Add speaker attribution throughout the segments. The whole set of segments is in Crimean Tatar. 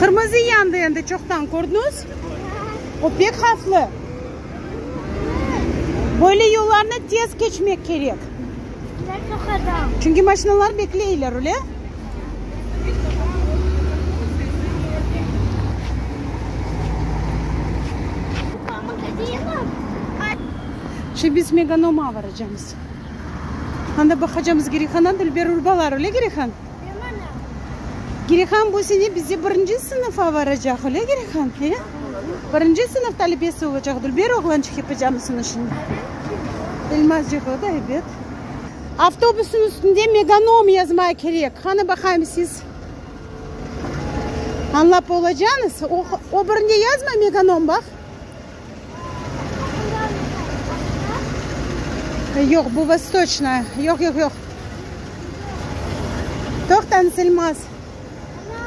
Speaker 1: Qırmızı yandı endi çoqtan, kördiñiz? O pek havflı. Böyle yollarnı tez keçmek kerek. Çünki maşinalar bekleyler, öyle? Şimdi biz Meganom'a varacamız. Anda baqacamız Girehandan Dilber urbalar, öyle Girehan? Girehan bu sene bizde birinci sınıf avaracaq, öyle Girehan? He? Birinci sınıf talibesi olacaq Dilber oğlançıq yapacamısın işin? Elmazcıq o da, ebet. Avtobusnıñ üstünde Meganom yazmay kerek, qanı baqayım siz añlap olacaqnız, o birinde yazmay Meganom baq. Yoq, bu Vostoçnaya. Yoq, yoq, yoq. Toqtañız, Elmaz. Ana,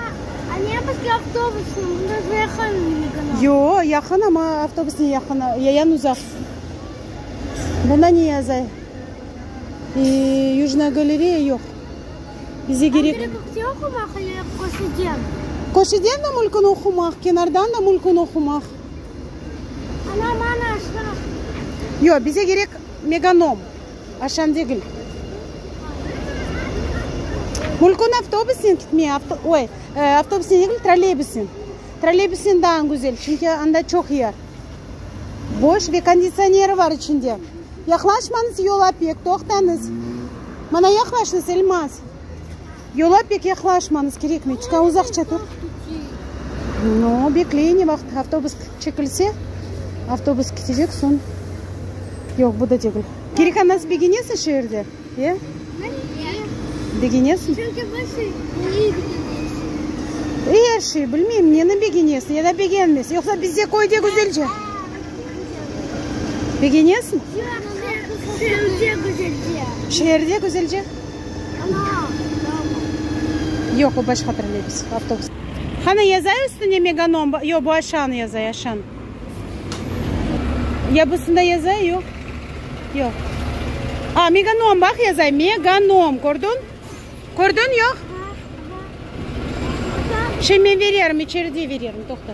Speaker 1: a ne bizge avtobusnı? Bunda özü yaqın Liganog. Yoq, yaqın, amma avtobus ne yaqın, yayan uzaq. Buna ne yazay? E, Yujnaya galereya yoq. Bize gerek. Tam biriklikte oqumaq, ele köşeden? Köşeden de mümkün oqumaq, kenardan da mümkün oqumaq. Ana, mana aşağı. Yoq, bize kerek Meganom, aşan degil. Mülkün avtobusnen kitmey, oy, avtobusnen degil, trolleybusnen. Trolleybusnen daa güzel, çünki anda çoq yer. Boş ve konditsioneri bar içinde. Yaqlaşmañız yol apek, toqtañız. Mana yaqlaştınız, Elmaz. Yola pek yaqlaşmañız, kerekmey, çıqav uzaqça tur. No, bekley, ne vaqıt avtobus çekilse, avtobus ketecek, soñ. Yoq, bu da degil. Kerekanaz begenesiñ şu yerde, ya? Begenesiñ? Çünki bu şey neyi begenesiñ? E, er şey, bilmeyim, neni begenesiñ, ya da begenmesiñ. Yoqsa bizde köyde güzelce. Begenesiñ? Yoq, şu yerde güzelce. Şu yerde güzelce? Yoq, o başqa trolleybus, avtobus. Qani yazay üstüne Meganom ba, yoq, bu aşağını yazay, aşan. Ya busında yazay, yoq. Yoq. A, Meganom, bax, yazay, Meganom, kördiñ? Kördiñ, yoq? Şey, men vererim, içeride vererim, toqta.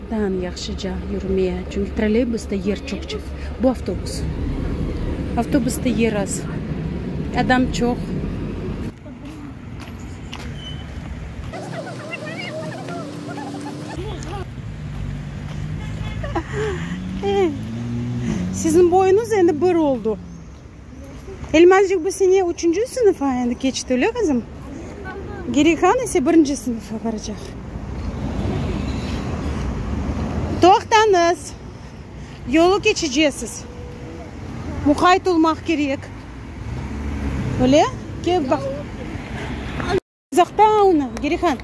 Speaker 1: Tan yahşıca yürmeye, çünki trolleybusda yer çoqçe. Bu avtobus. Avtobusda yer az, adam çoq. Siziñ boyuñız endi bir oldu. Elmazcıq bu sene üçünci sınıf endi keçti, öyle qızım? Gerihan ise birinci sınıfa baracaq. Toqtañız, yolu keçecesiz. Muqayt olmaq kerek. Öyle? Kel baq. Uzaqta onı, Gerihan.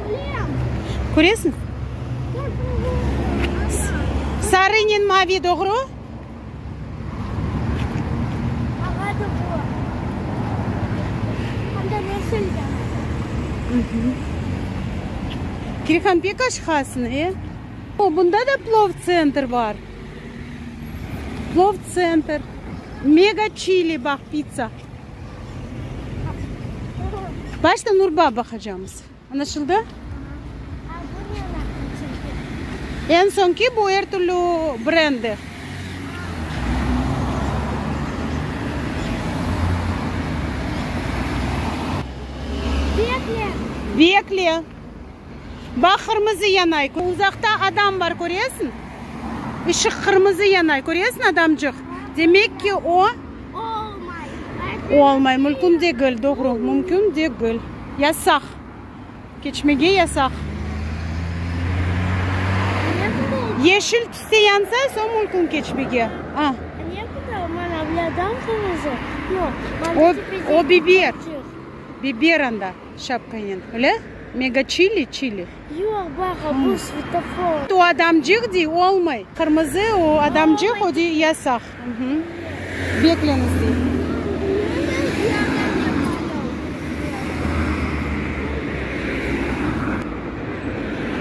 Speaker 1: Körem. Köresiñ? Sarınen mavi, doğru? Ağa da bu. Hem de yeşil de. Gerihan, pek aşıqasıñ, e? O, bunda da plov tsentr bar. Plov tsentr. Mega Chili, bax, pitsa. Başta Nurbab baqacamız. Añlaşıldı? A bu ne anahtar çünki? Eñ soñki bu er türlü brenddir. Bekle! Bekle! Baq, qırmızı yanay, uzaqta adam bar, köresiñ? Işıq qırmızı yanay, köresiñ, adamcıq? Demek ki, o. Olmay. O olmay, mülkün degil, doğru, mümkün degil. Yasaq. Keçmege yasaq. Yeşil tüste yansa, soñ mümkün keçmege. A. O, o biber. Biber anda. Şapkanen. Öyle? Mega çili, çili. Yoq, baqa, bu svetofor. O adamcıq dey, olmay. Qırmızı, o adamcıq, o dey, yasaq. Bekleniz dey.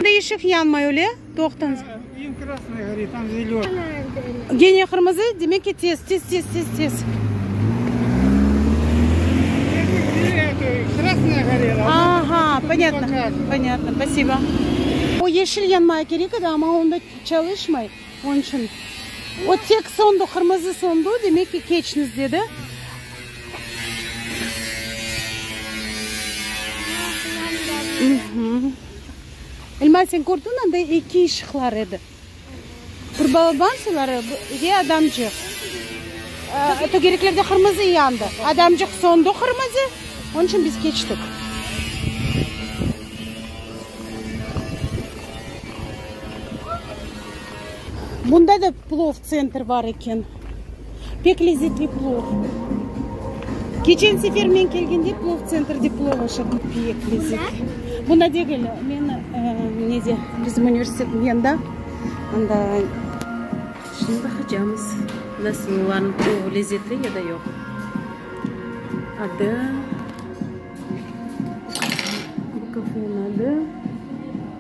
Speaker 1: Endi işıq yanmay, öyle? Toqtınız. Eñ krasnıy gori, tam zelönıy. Gene qırmızı, demek ki, tez, tez, tez, tez, tez. Krasnıy gorel. Aha, ponyatno, ponyatno, spasibo. O yeşil yanmaya kerek edi, amma onda çalışmay, onıñ içün. O tek sondu, qırmızı sondu, demek ki, keçniz, dedi. Mhı. Elma sen kördiñ anda eki işıqlar edi. Bir balaban suları ve adamcıq. Tögereklerde qırmızı yandı. Adamcıq sondı qırmızı, onun için biz keçtik. Bunda da plov tsentr bar eken. Pek lezzetli plov. Keçen sefer men kelgende plov tsentrdde plov aşırdım. Pek lezzetli. Bunda degil, men nede, bizim universitetniñ yanında, anda. Şimdi baqacağımız, nasıl olarnıñ plovı, lezzetli ya da yoq. Adı, bu kafenıñ adı.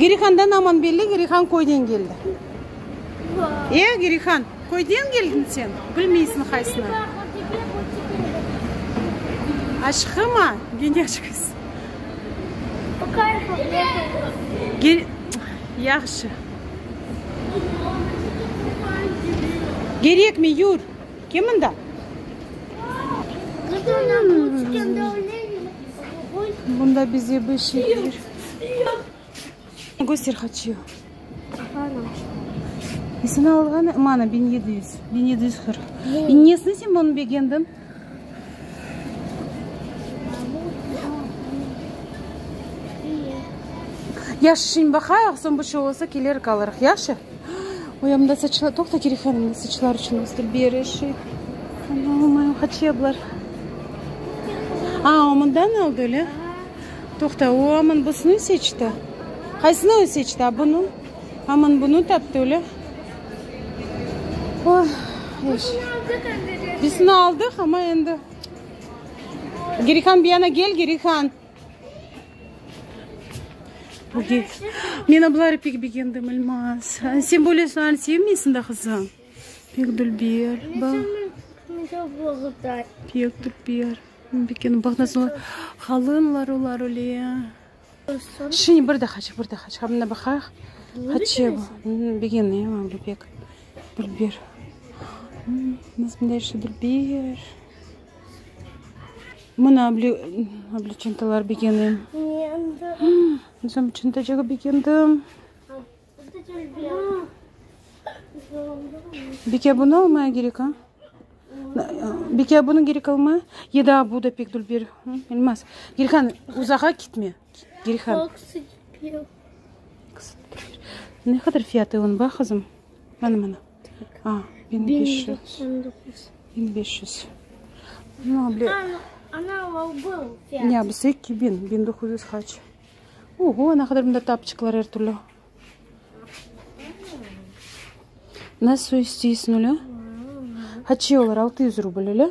Speaker 1: Girihandan aman belli, Girihan köyden keldi. E, Girihan, köyden keldiñ sen, bilmeysiñ haysını. Aşhıma, genyaş qız. Yahşı. Gerekmey, yur. Kim mında? Bunda bize bir şey kelir. Göster haçı. Nesini alğan? Mana, biñ yedi yüz. Biñ yedi yüz qırq. Nesini sen bunı begendiñ? Yaşı şimdi baqayıq, soñ bir şey olsa, kelerik, alırıq. Yaşı? Boyamda saçlar, toqta ki referim saçlar içün östür bir işi. Olmayım haçeblar. A, o mından aldı öyle. Toqta, o aman busunu seçti. Qaysını o seçti? A bunu? Aman bunu taptı öyle. O, eş. Bisini aldıq ama endi. Gerihan bir yana gel, Gerihan. Men abları pek begendim İlmaz. Sen böyle soğan sevmeysin de qızım. Pek dülber. Pek dülber. Begendim. Bak nasıl olar. Qalınlar olar öyle. Şimdi bir daha çık, bir daha çık. Abına baqaq. Hatice bu. Begenem abla pek. Dülber. Nasıl bunday şey dülber. Mına oblçintalar begenim. Özüm içün de çoq begendim. Bike bunı almaya gerek a? Bike bunı gerek almaya? Ya da bu da pek dülber. Bilmez. Gülhan, uzağa gitme. Girhan. Ne qadar fiyatı onıñ bax qızım. Mana mana. Aa, biñ beş yüz. Biñ beş yüz. No bile. Ana o bıl fiyatı. Ya biz iki biñ, biñ doquz yüz qaç. Oho, ne qadar bunda tapçıqlar er türlü. Nasıl isteysiñ öyle? Haçı olar altı yüz rubl öyle?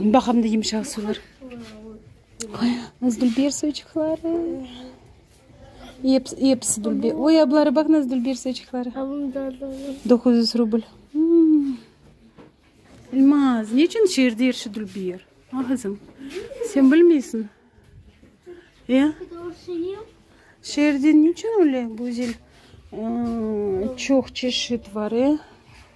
Speaker 1: Baqamda yımşaq sular. Nazgülber soçıqları. Episi dülber. Oy, abları baq Nazgülber soçıqları. Doquz yüz rubl. Elmaz, ne içün şeerde er şey dülber? A, qızım, sen bilmeysiñ. E? Şeerde ne içün öyle güzel çoq çeşit var, e?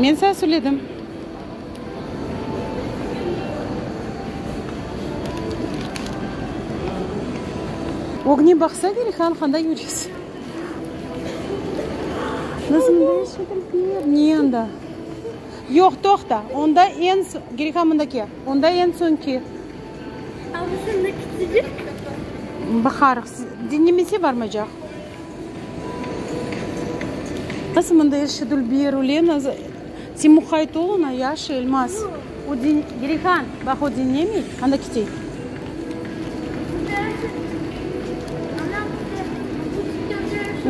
Speaker 1: Men sañ söyledim. Ögne baqsa gerek han qanda yüresiñ. Niye anda? Yoq, toqta, onda en soñ, gerek ha mında kel, onda en soñki. Baqarıq. Diñlemesi barmacaq. Nasıl mında er şey dul bir Ulena za. Sen muqayt ol oña, yaşa, Elmaz. O diñ Gerihan, baq o diñlemiy, anda kite.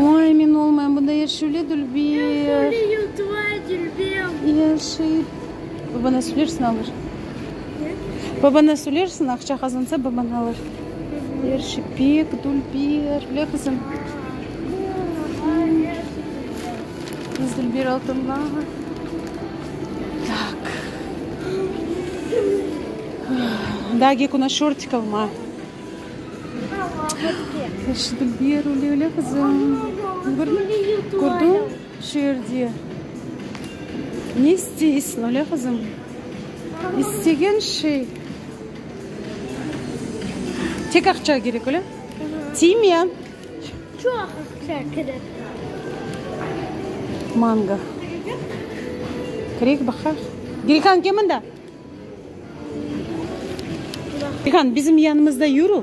Speaker 1: Oy, men olmayım, bunda er şey öle dul bir. Yaşa, Elmaz. Bana söylersin, alır. Babana söylersin, aqça qazansa, babana alır. Yer şipik, dülber, bile qızım? Biz dülber altınla. Tak. Daa gek ona şortik alma. Yer şi dülber, öyle, öyle qızım. Kördiñ? Şu yerde ne isteysin, öyle qızım? İstegen şey. Tek aqça kerek, öyle? Tiyme! Çoq aqça kerek. Mango. Kerek, baqaq. Gülhan, kel mında. Gülhan, bizim yanımızda yürü.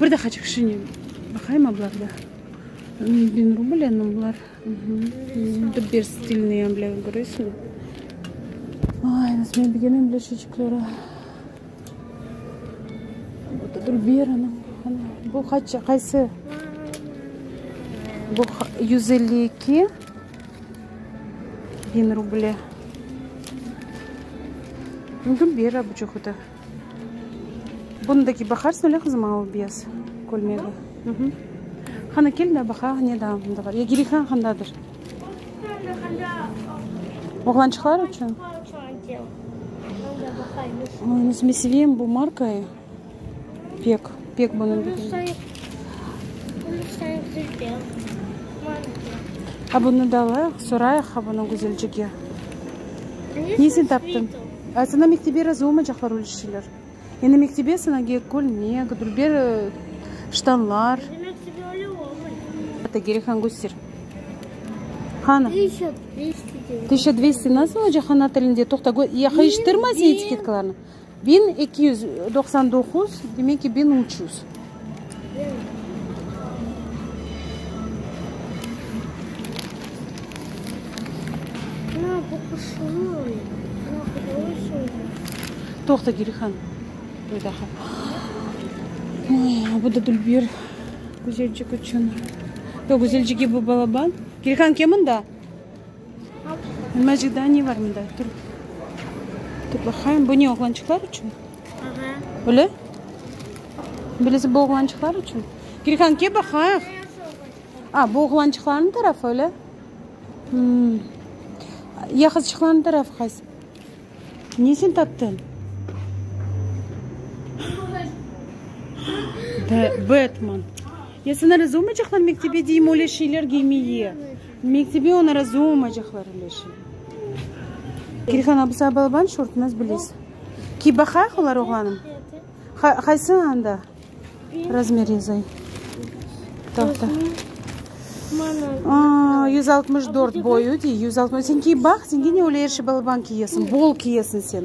Speaker 1: Bir daha çıkışını baqayım ablarda. Bin rubl endi bular. Dubber stilniy ambler göresiñmi? Ay, nasıl men bilgen ambler şeçikleri. Dubber ana, ana. Bu qaç, qaysı? Bu yüz elli eki bin ruble. Dubber abuçuq o da. Bunı da ki baqarsın öyle qızım al biyaz kölmegi. Qani kel da baqa ne da bunda bar ya gerek ha qandadır. Oğlançıqlar içün? Oy, özüm seveyim bu markayı pek, pek bunı. Ha bunı da alayıq, sorayıq ha bunı Güzelcege. Niyesini taptıñ? A sana mektebe razı olmaycaqlar öyle şeyler. Endi mektebe sana gerek kölmek, dülber ştanlar. Bizim mektebe öyle olmay. Ata gerek han köster. Hanı? Tışa dvesti. Tışa dvesti nasıl olacaq ana tilinde? Toqta, yaqayıştırma sen etiketkalarnı. Biñ eki yüz doqsan doquz, demek ki, biñ üç yüz. Toqta, Gelihan, bir daha. Bu da Dülber Güzelcik içün. Yoq, Güzelcik eb bu balaban. Gelihan, kel mında. Nima cidaniy var mında? Tur, tur baqayım. Bu ne, oğlançıqlar içün? Aha. Öyle? Bilesi bu oğlançıqlar içün? Gülhan, kel baqayıq. A, bu oğlançıqlarnıñ tarafı, öyle? Hmm. Ya qızçıqlarnıñ tarafı qaysı? Ne sen taptın? Be- Betman. Ya sen razı olmaycaqlar mektebe deyim öyle şeyler giymeye? Mektebe oña razı olmaycaqlar, Ülâşe. Kirhan abısı abalaban şortnaz bilez. Kiy baqayıq olar oğlanım. Qaysı anda razmer yazay? Tahta. Yüz altmış dört boyu dey. Sen kiy baq, senge ne öyle er şey balaban kiyesiñ. Bol kiyesiñ sen.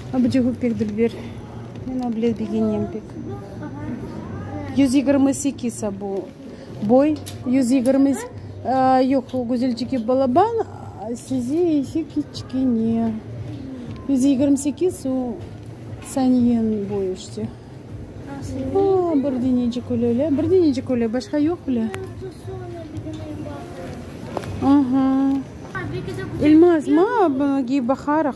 Speaker 1: Abcıgu pek dülber. Men ablet begenem pek. Yüz yigirmi sekiz abu. Boy yüz yigirmi s-. Yoq, o Güzelcigi balaban, sizi ise kiçkene. Yüz yigirmi sekiz o Saniyenin boyu işte. Aa, bir denecik öyle le. Bir denecik öyle, başqa yoq bile. Aha. Elmaz mı? Buna giyip baqarıq.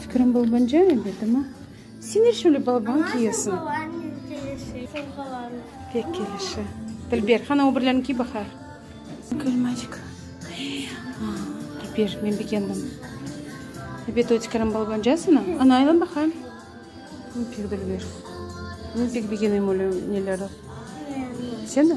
Speaker 1: Fikrim babanja endi, demi? Sen er şöyle baban kiyesiñ. Ama sen babañnen kelişi, sen babañnen. Pek kelişi. Dilber, qani o birlerini kiy baqa. Gülmacik. Dilber, men begendim. Ebet, o tikerim balbancasını. Ana, aylan baqa. Men pek, Dilber, men pek begenem öyle nelerni. Seni?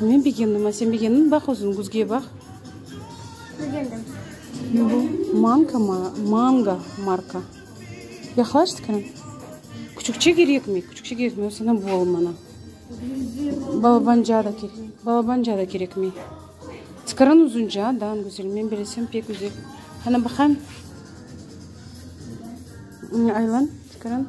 Speaker 1: Men begendim, a sen begendinmi? Baq özün, güzge baq. Begendim. Ne bu? Manka mı? Manga marka. Yaqlaş skrin. Küçükçe kerekmi? Küçükçe kerekmi? Yoqsa ne bu oğlum bana? Balabanja da kerek. Balabanja da kerekmi? Skrin uzunca, da, güzel. Men bilesem pek güzel. Qana baqayım. Aylan, skrin.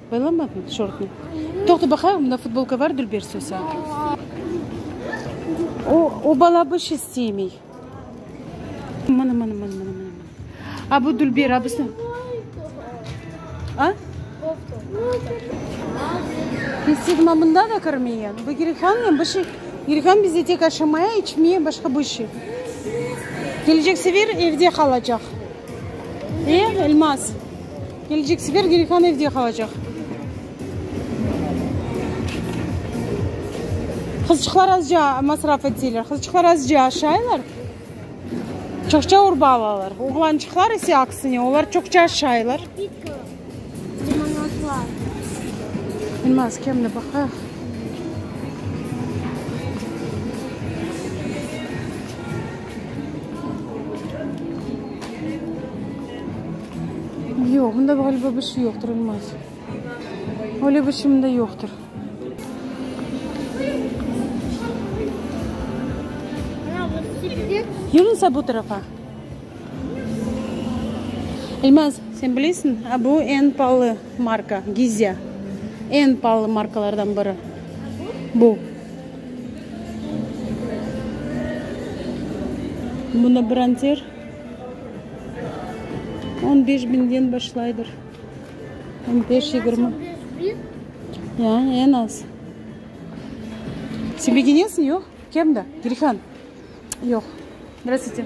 Speaker 1: Baylamadım tişörtni. Toqta baqayım, mında futbolka bar, Dülber Sosa. O, o bala bu iş isteymey. Mına, mına, mına, mına, mına. A, bu Dülber, a, busı. A? Kestiydim, a mında da kirmeye. Bu Girihanmen bu şey. Girihan bizde tek aşamaya, içmeye, başqa bu işi. Kelecek sefer evde qalacaq. E, Elmaz? Kelecek sefer Gelihan evde qalacaq. Qızçıqlar azca masraf eteler. Qızçıqlar azca aşaylar, çoqça urba alalar. Oğlançıqlar ise aksine, olar çoqça aşaylar. Bilmez, kem de baqayıq. Yoq, bunda ğaliba bir şey yoqtır, İlmaz. Öyle bir şey bunda yoqtır. Yürün sen bu tarafa. İlmaz, sen bilesiñ, bu en paalı marka, Gizya. En paalı markalardan biri. Bu. Bunı bronzer on beş biñden başlaydır. On beş yigirmi. Ya, en az. Sen begenesiñ, yoq? Kem da, girhan. Yoq. Zdrastvuyti.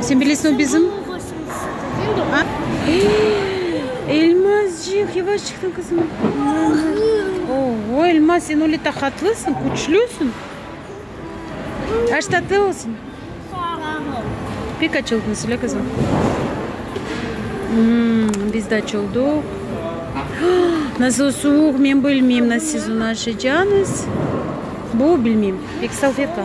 Speaker 1: Sen bilesiñ, o bizim. Elmascıq, yavaş çıqsın qızım. Ovoy, Elmas, sen öyle taqatlısıñ, küçlüsıñ. Aş tatlı olsun. Pek aç oldunız, öyle qızım. Biz de aç olduq. Nasıl suvuq, men bilmeyim, nasıl siz onı aşacağınız. Bu, bilmeyim. Pek salfetka.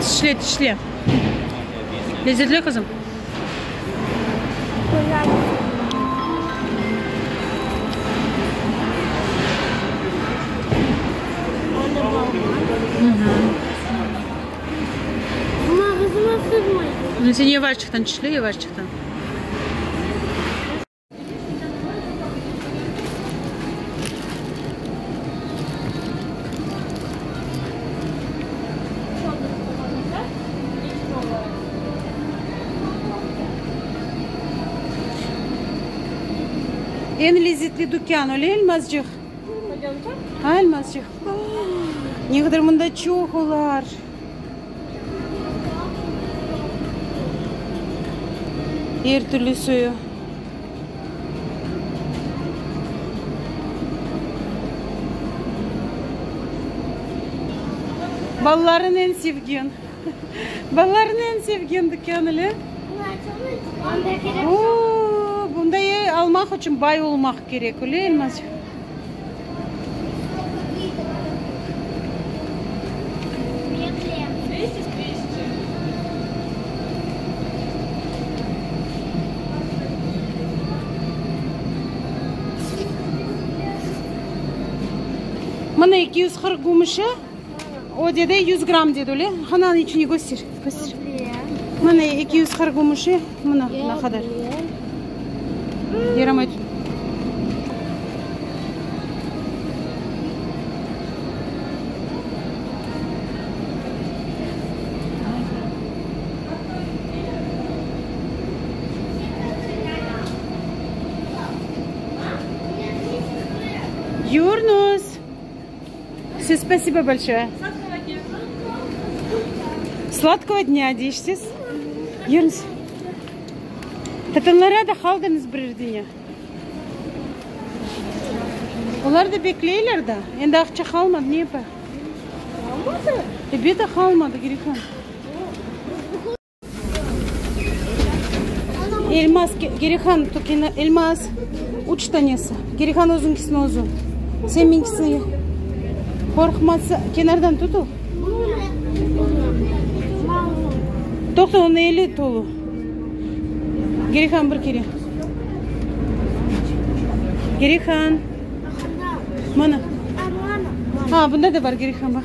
Speaker 1: Tişle, tişle. Lezzetli, qızım? Sen yavaşçıqtan tişle, yavaşçıqtan. Eñ lezzetli dükân, öyle Elmazcığ? Elmazcığ. Ne qadar mında çoq olar! Er türlü suyu. Balalarnıñ eñ sevgen. Balalarnıñ eñ sevgen dükân ele. Bunda almaq içün bay olmaq kerek, öyle elmaz. Mına eki yüz qırq gümüşi. O dedi, yüz gram dedi, öyle? Qani anı içini köster, köster. Mına eki yüz qırq gümüşi, mına ne qadar. Yaramay. Yurnus! Siz spasibo bolşoye. Sladkova dnya. Sladkova dnya deyişsiz. Yürniz. Tatanlara da qaldıñız birer dünya. Olar da bekleyler da. Endi aqça qalmadı, ne yapayıq? Qalmadı? Ebet de qalmadı, Grifon. Elmaz, Gerihan, Türkiyeni, Elmaz, üç tanesi. Gerihan özünkisini özü. Sen menkisini ye. Qorqmasa, kenardan tut o. Toqta, onu ele tolu. Gerihan bir kere. Gerihan. Mana. Ha, bunda da bar Gerihan, bax.